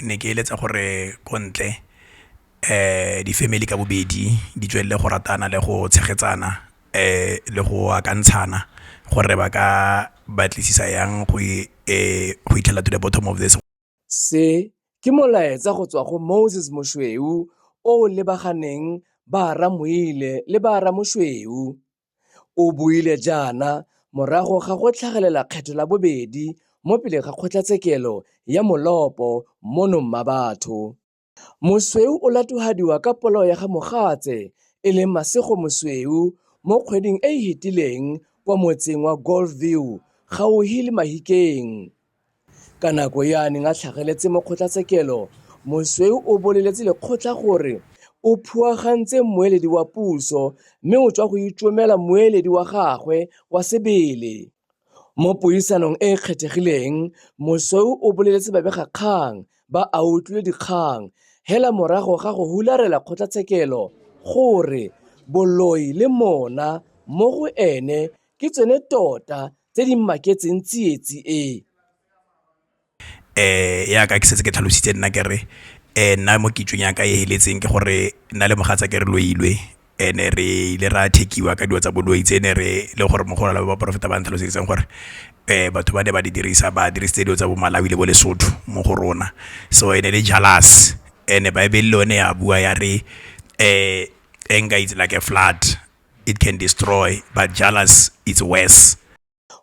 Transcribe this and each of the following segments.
ne ke eletsa gore ko ntle di family ka bobedi di tswelele go ratana le go tshegetsana le go akantshana gore ba ka batlisisa yang go fitlhela to the bottom of this. Se ke molaetsa go tswa go Moses Moshweu o o lebaganeng ba Ramoile le ba Ramoshweu. O buile jaana morago ga go tlhagelela kgetho la bobedi mo pele ga kgotlatshekelo ya molopo mono Mmabatho. Mosweu o latogadiwa ka polao ya ga mogatse e leng Masego Mosweu mo kgweding e e fetileng kwa motseng wa Golf View gauhi le Mahikeng. Ka nako e a neng a tlhageletse mo kgotlatshekelo, mosweu o boleletse lekgotla gore o phuagantse mmueledi wa puso mme o tswa go itomela mmueledi wa gagwe wa sebele. Mo puisanong e e kgethegileng, mosweu o boleletse babegakgang ba a utlwile dikgang hela morago ga go hularela kgotlatshekelo gore boloi le mona mo go ene ke tsone tota tse di mmaketseng tsietsi e. Um yaka ke setse ke tlhalositse nna kere um nna mo kitsong yaka e feletseng ke gore nna le mogatsa ke re loilwe and-e re ile ra thakiwa ka dilo tsa boloi tse ne re le gore mo go na le ba porofeta ba ntlhalosetseng gore um batho ba ne ba di dirisa ba dirisitse dilo tsa bo malawi le bo lesotho mo go rona so e ne le jealous and-e baebele le yone ya bua ya re um anger is like a flood. it can destroy but jealous it's worse.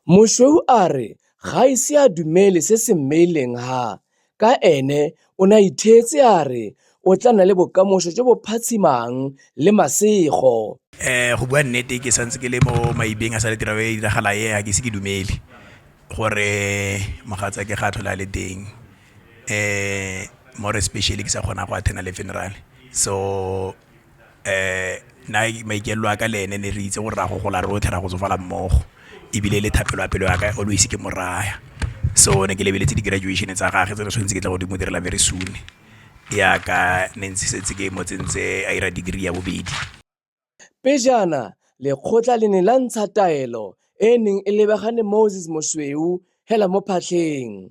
Moshweu a re ga a ise a dumele se se mmeileng ha ka ene o ne a itheetse a re o tla nna le bokamoso jo bo phatshimang le masego. Eh go bua nnete ke santse ke le mo maibeng a sa le tiro e diragala e ga ke se ke dumele gore mogatsa ke ga a tlhola le teng eh more especially ke sa kgona go attend le funeral so na maikalelo a ka le ene ne re itse gore ra go gola rotlhe ra go tsofala mmogo ebile le thapelo ya pelo ya ka always ke mo raya so ne ke lebeletse di graduation tsa gage tse ne tshwanetse ke tle go di mo direla very soon jaaka ne ntse setse ke mo tsentse a ira degree ya bobedi. Pejana lekgotla le ne la ntsha taelo e e neng e lebagane Moses Mosweu hela mo phatlheng.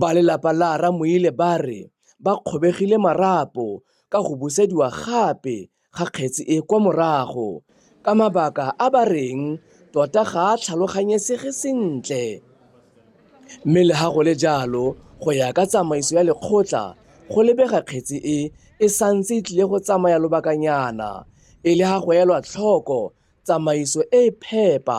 Ba lelapa la Ramoile ba re ba kgobegile marapo ka go busediwa gape ga kgetsi e kwa morago ka mabaka a ba reng tota ga a tlhaloganyesege sentle mme le ha go le jalo go ya ka tsamaiso ya lekgotla go lebega kgetsi e e santse e tlile go tsamaya lobakanyana e le ha go elwa tlhoko tsamaiso e e phepa